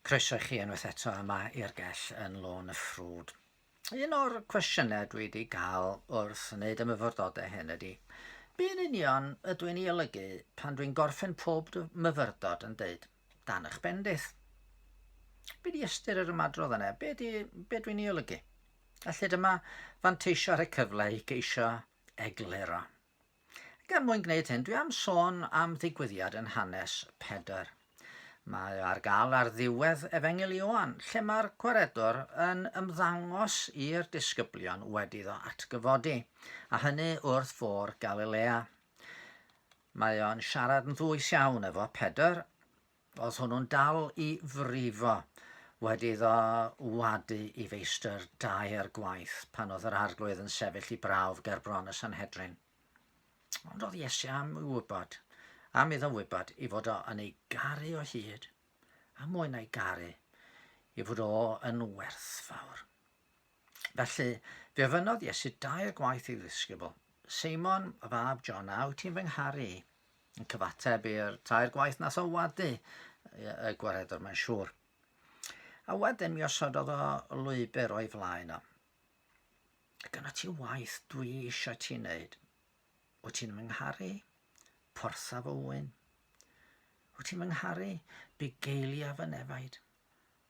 Croeso i chi unwaith eto yma i'r gell yn lôn y ffrwd. Un o'r cwestiynau dwi wedi cael wrth wneud y myfyrdodau hyn ydy, be'n union ydw i'n ei olygu pan dwi'n gorffen pob myfyrdod yn deud, dan eich bendith? Be di ystyr yr ymadrodd yna? Be, di, be dwi'n ei olygu? A lle dyma fanteisio ar y cyfle i geisio egluro. Ac er mwyn gwneud hyn, dwi am sôn am ddigwyddiad yn hanes Pedr. Mae ar gael ar ddiwedd Efengyl Ioan, lle mae'r gwaredwr yn ymddangos i'r disgyblion wedi ddo atgyfodi, a hynny wrth fôr Galilea. Mae o'n siarad yn ddwys iawn efo Pedr, Oedd hwnnw'n dal i frifo wedi iddo wadu i feistr daear gwaith pan oedd yr Arglwydd yn sefyll i brawf ger bron y Sanhedrin. Ond oedd Iesu am i wybod, am iddo wybod i fod o yn ei garu o hyd, a mwy na'i garu, i fod o yn werthfawr. Felly, fe ofynnodd Iesu dair gwaith ei ddisgybl, Seimon, y fab John, a wyt ti'n fy ngharu i? Yn cyfateb i'r tair gwaith nath o wadu y gwaredwr, mae'n siŵr. A wedyn mi osododd o lwybr o'i flaen o. Dyna ti waith dwi eisiau ti wneud. Wyt ti'n fy ngharu? Porthaf o wyn. Wyt ti'n fy ngharu? Bugeilia fy nefaid.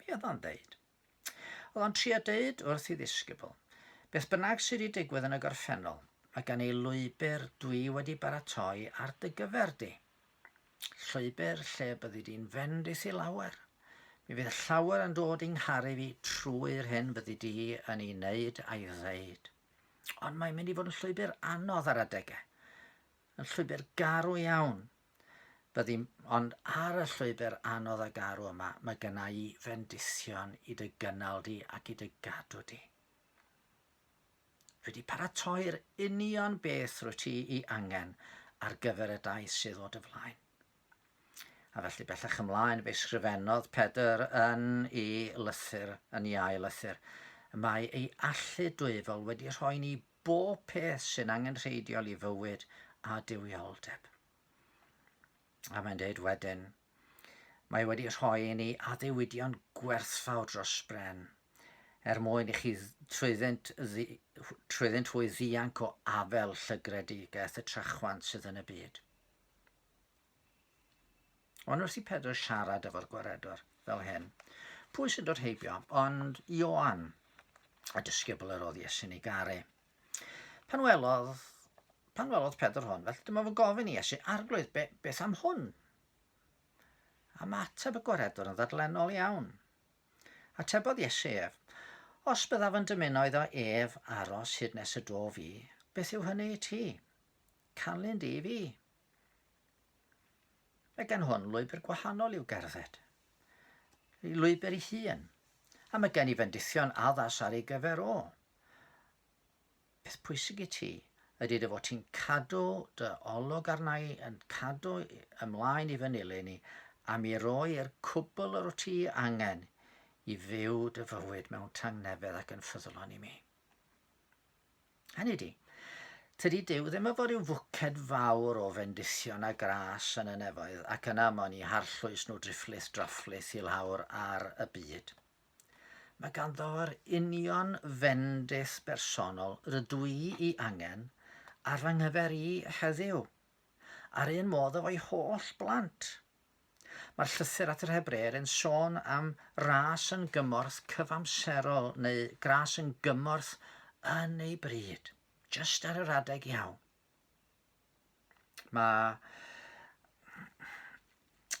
Be oedd o'n deud? Oedd o'n trio deud wrth i ddisgybl, beth bynnag sydd wedi digwydd yn y gorffennol, mae gen i lwybr dwi wedi baratoi ar dy gyfer di. Llwybr lle byddi di'n fynd i thi lawer. Mi fydd llawer yn dod i'n ngharu fi trwy'r hyn fyddi di yn ei wneud a'i ddeud. Ond mae'n mynd i fod yn llwybr anodd ar adegau. Yn llwybr garw iawn, Byddym ond ar y llwybr anodd a garw yma, mae gynna i fendithion i dy gynnal di ac i dy gadw di. Wedi paratoi'r union beth rwy ti i angen ar gyfer y daith sydd o dy flaen. A felly bellach ymlaen fe sgrifennodd Pedr yn ei lythyr, yn ei ail lythyr, mae ei allu dwyfol wedi rhoi ni bob peth sy'n angenrheidiol i fywyd a duwioldeb. A mae'n dweud wedyn, mae wedi rhoi i ni addewidion gwerthfawr dros bren, er mwyn i chi trwyddynt, trwyddynt hwy ddianc o afel llygredigaeth y trachwant sydd yn y byd. Ond wrth i Pedr siarad efo'r gwaredwr fel hyn, pwy sy'n dod heibio? Ond Ioan, y disgybl yr oedd Iesu'n ei garu. Pan welodd, pan welodd Pedr hwn, felly dyma fo'n gofyn i Iesu, arglwydd, be, beth am hwn? A mae ateb y gwaredwr yn ddadlennol iawn. Atebodd Iesu ef, os byddaf yn dymuno iddo ef aros hyd nes y dof i, beth yw hynny i ti? Canlyn di i fi, Mae gen hwn lwybr gwahanol i'w gerdded. Ei lwybr ei hun. A mae gen i fendithion addas ar ei gyfer o. Peth pwysig i ti ydy dy fod ti'n cadw dy olwg arna i, yn cadw ymlaen i fy nilyn i, a mi roi i'r cwbl yr wyt ti angen i fyw dy fywyd mewn tangnefedd ac yn ffyddlon i mi. Hynny ydy, tydi Duw ddim efo rhyw fwced fawr o fendithion a gras yn y nefoedd ac yna mon i harllwys nhw drifflith drafflith i lawr ar y byd. Mae ganddo yr union fendith bersonol rydw i i angen ar fy nghyfer i heddiw, a'r un modd efo'i holl blant. Mae'r llythyr at yr Hebreaid yn sôn am ras yn gymorth cyfamserol neu gras yn gymorth yn ei bryd, just ar yr adeg iawn. Mae,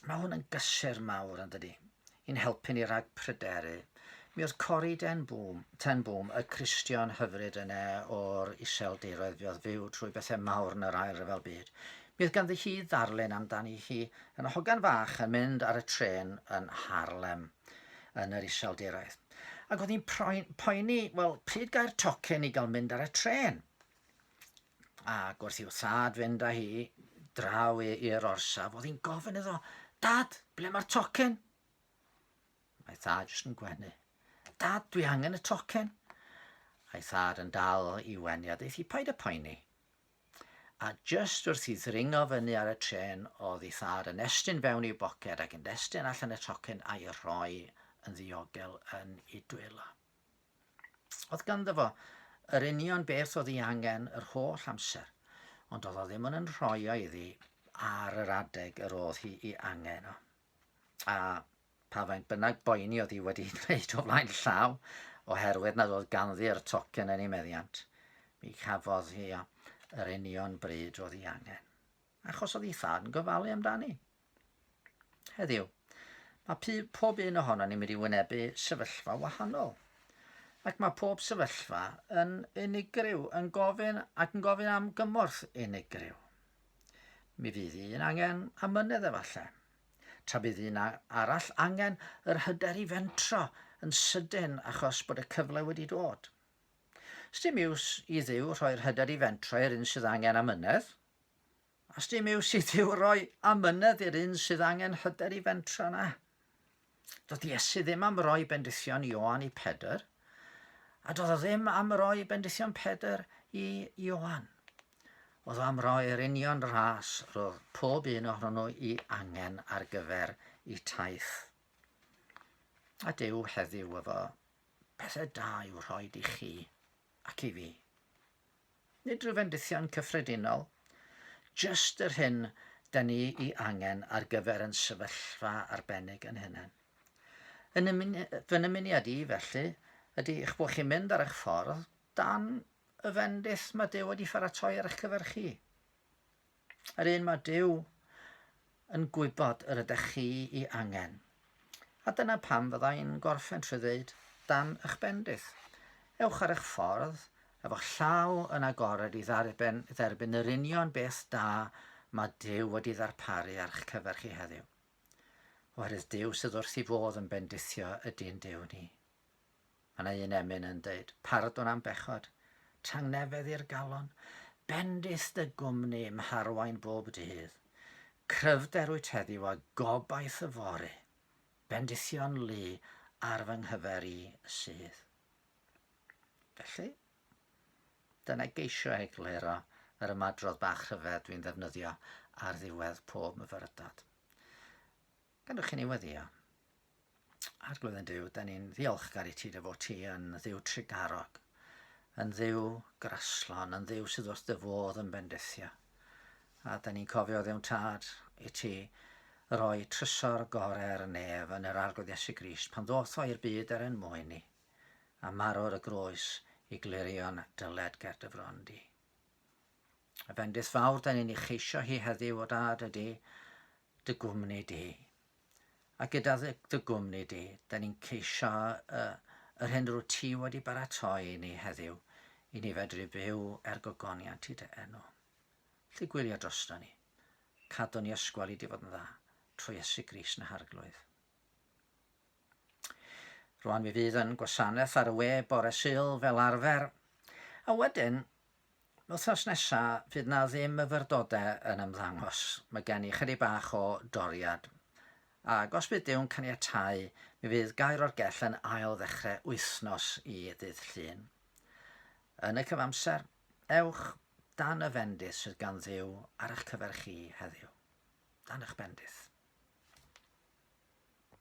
mae hwn yn gysur mawr yn dydy, i'n helpu ni rhag pryderu Mi oedd Corrie Ten Boom, Ten Boom, y Cristion hyfryd yna o'r Iseldiroedd fe oedd fyw trwy bethau mawr yn yr Ail Ryfel Byd. Mi oedd ganddi hi ddarlun amdani hi yn hogan fach yn mynd ar y trên yn Harlem yn yr Iseldiroedd. Ac oedd hi'n poeni, wel, pryd gair tocyn i gael mynd ar y trên? Ac wrth i'w thad fynd â hi draw i'r orsaf, oedd hi'n gofyn iddo, Dad, ble mae'r tocyn? Mae thad jyst yn gwenu. Dad, dwi angen y tocyn. A'i thad yn dal i wenu a ddeith i paid y poeni. A jyst wrth i ddringo fyny ar y tren oedd i thad yn estyn fewn i'w boced ac yn destyn allan y tocyn a'i rhoi yn ddiogel yn ei dwylo. Oedd ganddo fo yr union beth oedd ei angen yr holl amser, ond oedd o ddim yn rhoi o iddi ar yr adeg yr oedd hi i angen o. a pa faint bynnag boeni oedd hi wedi dweud o flaen llaw, oherwydd nad oedd ganddi'r tocyn yn ei meddiant, mi cafodd hi yr union bryd oedd hi angen, achos oedd hi than gofalu amdani. Heddiw, mae pob un ohono ni'n mynd i wynebu sefyllfa wahanol, ac mae pob sefyllfa yn unigryw, yn gofyn ac yn gofyn am gymorth unigryw. Mi fydd un angen amynedd efallai, tra bydd un arall angen yr hyder i fentro yn sydyn achos bod y cyfle wedi dod. Sdim iws i Dduw rhoi'r hyder i fentro i'r un sydd angen amynedd, a sdim iws i Dduw roi amynedd i'r un sydd angen hyder i fentro na. Doedd Iesu ddim am roi bendithion i Ioan i Pedr, a doedd o ddim am roi bendithion Pedr i Ioan. Oedd o am roi'r union ras roedd pob un ohono nhw i angen ar gyfer i taith. A Dyw heddiw efo pethau da i'w rhoi i chi ac i fi. Nid rhyw fendithion cyffredinol, jyst yr hyn da ni'i angen ar gyfer yn sefyllfa arbennig yn hunain. Fy nymuniad i, felly, ydy eich bod chi'n mynd ar eich ffordd dan y fendith mae Duw wedi pharatoi ar eich cyfer chi. Yr un mae Duw yn gwybod yr ydych chi i angen. A dyna pam fydda i'n gorffen trwy ddeud, dan eich bendith. Ewch ar eich ffordd, efo'ch llaw yn agored i ddarben, dderbyn yr union beth da mae Duw wedi ddarparu ar eich cyfer chi heddiw. Oherwydd Duw sydd wrth i fodd yn bendithio ydy'n Duw ni. Mae yna un emyn yn deud, pardwn am bechod, tangnefedd i'r galon, bendith dy gwmni i'm harwain bob dydd. Cryfder wyt heddiw a gobaith y fore, bendithion lu ar fy nghyfer i sydd. Felly, dyna geisio egluro yr ymadrodd bach rhyfedd dwi'n ddefnyddio ar ddiwedd pob myfyrdod. Gan chi ni weddio. Arglwydd yn Duw, da ni'n ddiolchgar i ti dy fod ti yn ddiw trigarog, yn ddiw graslon, yn ddiw sydd wrth dy fodd yn bendithio. A da ni'n cofio ddiwn tad i ti roi trysor gorau ar y nef yn yr Arglwydd Iesu Grist pan ddoth o i'r byd er yn mwyn ni, a marw ar y groes i glirio'n dyled ger dy fron di. A bendith fawr da ni'n ei cheisio hi heddiw o dad ydy dy gwmni di. A gyda dy, dy gwmni di, da ni'n ceisio y, yr hyn rwyt ti wedi baratoi i ni heddiw, i ni fedru byw er gogoniant i dy enw. Lly gwylio drosto ni. Cadw ni ysgwel i di fod yn dda, trwy Iesu Gris na harglwydd. Rwan mi fydd yn gwasanaeth ar y we bore syl fel arfer, a wedyn Wythnos nesa fydd 'na ddim myfyrdode yn ymddangos, mae gen i chydig bach o doriad. Ag os bydd Duw'n caniatáu, mi fydd Gair o'r Gell yn ail ddechre wythnos i ddydd Llun. Yn y cyfamser, ewch dan y fendith sydd gan Dduw ar eich cyfer chi heddiw. Dan eich bendith.